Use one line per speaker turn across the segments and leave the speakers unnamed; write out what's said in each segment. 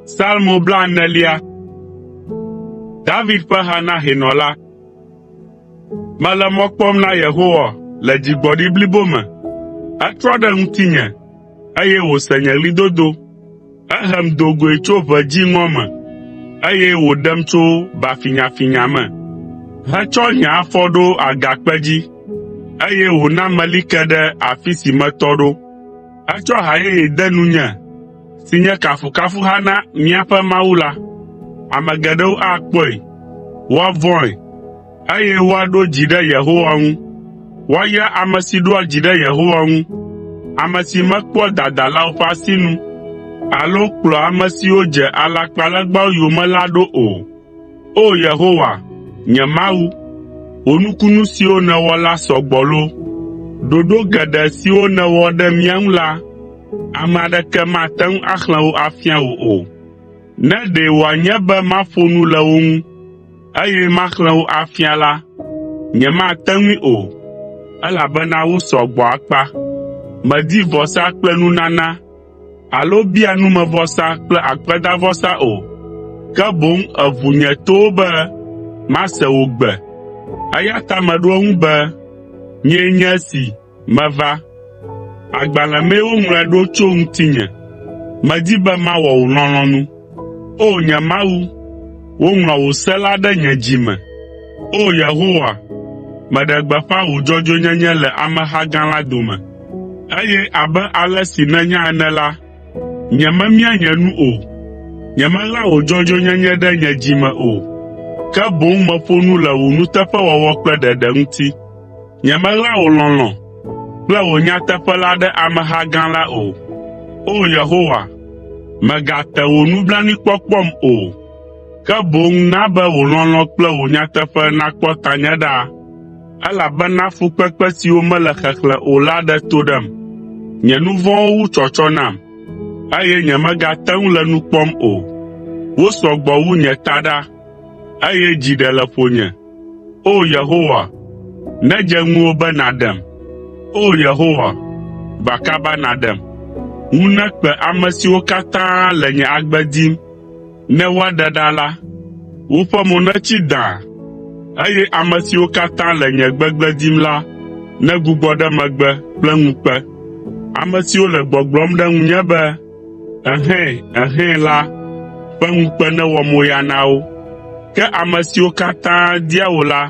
Salmo blaenelia. David ƒe ha na hɛnɔ la. Mele mɔ kpɔm na Yehowa le dzigbɔɖi blibo me. Etrɔ ɖe ŋutinye, eye wòse nye ɣlidodo. Ehem do goe tso ʋe dziŋɔ me, eye wòɖem tso bafinyafinya me, hetsɔ nye afɔ ɖo agakpe dzi, eye wòna meli ke ɖe afi si metɔ ɖo. Etsɔ ha yeye de nunye, si nye kafukafuha na míaƒe Mawu la. Ame geɖewo akpɔe, woavɔ̃e, eye woaɖo dzi ɖe Yehowa ŋu. Woayra ame si ɖoa dzi ɖe Yehowa ŋu, ame si mekpɔa dadalawo ƒe asinu alo kplɔa ame siwo dze alakpalegbawo yome la ɖo o. O! Yehowa, nye Mawu, wò nukunu siwo nèwɔ la sɔ gbɔ loo! Ɖoɖo geɖe siwo nèwɔ ɖe mía ŋu la, ame aɖeke mate ŋu axlẽ wo afia wò o. Ne ɖe wòanye be maƒo nu le wo ŋu. eye maxlẽ wo afia la, nyemate ŋui o, elabena wosɔ gbɔ akpa. Mèdi vɔsa kple nunana alo bia numevɔsa kple akpedavɔsa o, ke boŋ èʋu nye towo be mase wò gbe. Eya ta meɖo eŋu be, “Nyee nye esi.” Meva! Agbalẽ mee woŋlɔe ɖo tso ŋutinye. Medi be mawɔ wò lɔlɔ̃nu. O nye Mawu, woŋlɔ wò se la ɖe nye dzi me. O Yehowa, meɖe gbeƒã wò dzɔdzɔenyenye le ameha gã la dome, eye abe ale si nènya ene la, nyememia nye nu o. Nyemeɣla wò dzɔdzɔenyenye ɖe nye dzi me o, ke boŋ meƒo nu le wò nuteƒewɔwɔ kple ɖeɖe ŋuti. Nyemeɣla wò lɔlɔ̃ kple wò nyateƒe la ɖe ameha gã la o. O Yehowa, mègate wò nublanuikpɔkpɔm o, ke boŋ na be wò lɔlɔ̃ kple wò nyateƒe nakpɔ tanye ɖa, elabena fukpekpe siwo mele xexlẽ o la ɖe to ɖem. Nye nu vɔ̃wo wu tsɔtsɔ nam, eye nyemegate ŋu le nu kpɔm o. Wosɔ gbɔ wu nye taɖa, eye dzi ɖe le ƒonye. O Yehowa, nedze ŋuwò be nàɖem. O Yehowa, gba kaba nàɖem. Ŋu nekpe ame siwo katã le nye agbe dim ne woaɖe ɖa la. Woƒe mo netsi dãa, eye ame siwo katã le nye gbegblẽ dim la negbugbɔ ɖe megbe kple ŋukpe, ame siwo le gbɔgblɔm ɖe ŋunye be, “Ɛhɛ̃, ɛhɛ̃” la ƒe ŋukpe newɔ moya na wo. Ke ame siwo katã dia wò la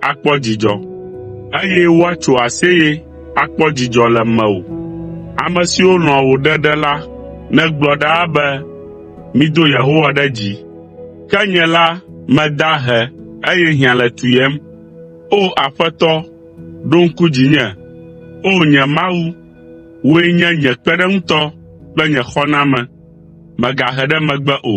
akpɔ dzidzɔ, eye woatso aseye akpɔ dzidzɔ le mewò. Ame siwo lɔ̃a wò ɖeɖe la negblɔ ɖaa be, “Mido Yehowa ɖe dzi!” Ke nye la, meda ahe, eye hiã le tuyem. O Aƒetɔ, ɖo ŋku dzinye, O nye Mawu, Wòe nye nye kpeɖeŋutɔ kple nye xɔname, mègahe ɖe megbe o.